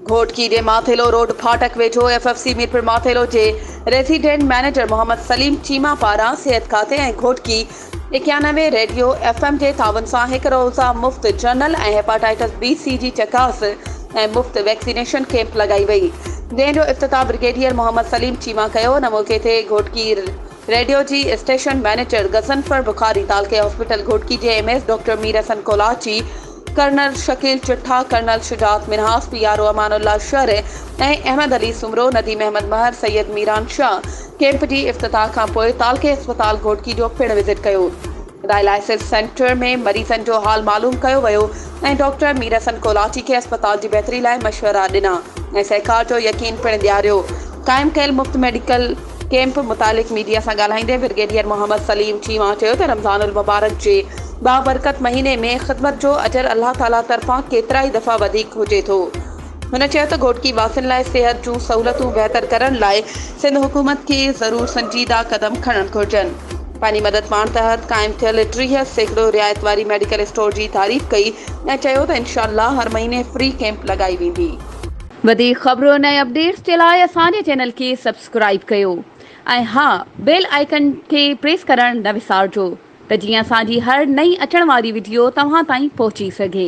گهوٽڪي جي ماٿيلو روڊ ڦاٽڪ ويجهو F F C Mirpur Mathelo جي ريزيڊنٽ مئنيجر محمد سليم چيما پاران صحت کاتي ۽ گهوٽڪي اڪيانوي ريڊيو ايف ايم جي تعاون سان هڪ روزه مفت جنرل ۽ هيپاٽائيٽس بي سي جي چڪاس ۽ مفت ويڪسينيشن ڪيمپ لڳائي وئي جنهن جو افتتاح برگيڊيئر محمد سليم چيما ڪيو ان موقعي تي گهوٽڪي ريڊيو جي اسٽيشن مئنيجر غضنفر بخاري تعلقي هاسپيٽل گهوٽڪي جي M S doctor Mir Hassan Kolachi colonel Shakeel Chatha, colonel Shujaat Minhas, P R O امان الله شرعي ۽ احمد علي سومرو، نديم احمد مهر، سيد ميران شاهه ڪيمپ جي افتتاح کانپوء تعلقي اسپتال گهوٽڪي جو پڻ وزٽ ڪيو. ڊائلائسز سينٽر ۾ مريضن جو حال معلوم ڪيو ويو ۽ ڊاڪٽر ميرحسن ڪولاچي کي اسپتال جي بهتري لاء مشورا ڏنا ۽ سهڪار جو يقين پڻ ڏياريو. قائم ڪيل مفت ميڊيڪل. ڪئمپ متعلق ميڊيا سان ڳالهائيندي برگيڊيئر محمد سليم چيما چيو ته رمضان المبارڪ جي بابرڪت مهيني ۾ خدمت جو اجر الله تعاليٰ طرفان ڪيترائي دفعا وڌيڪ هجي ٿو. هن چيو ته گهوٽڪي واسين لاء صحت جون سهولتون بهتر ڪرڻ لاء سنڌ حڪومت کي ضرور سنجيده قدم کڻڻ گهرجن. پنهنجي مدد پاڻ تحت قائم ٿيل ٽيهه سيڪڙو رعايت واري ميڊيڪل اسٽور جي تعريف ڪئي ۽ چيو ته انشاء الله هر مهيني فري ڪئمپ لڳائي ويندي. وڌيڪ خبرن ۽ اپڊيٽس جي لاء اسان جي چينل کي سبسڪرائيب ڪيو ۽ ها بيل آئيڪن کي پريس ڪرڻ نه وسارجو ته جيئن اسان جي هر نئين اچڻ واري وڊيو توهان تائين پهچي سگهي.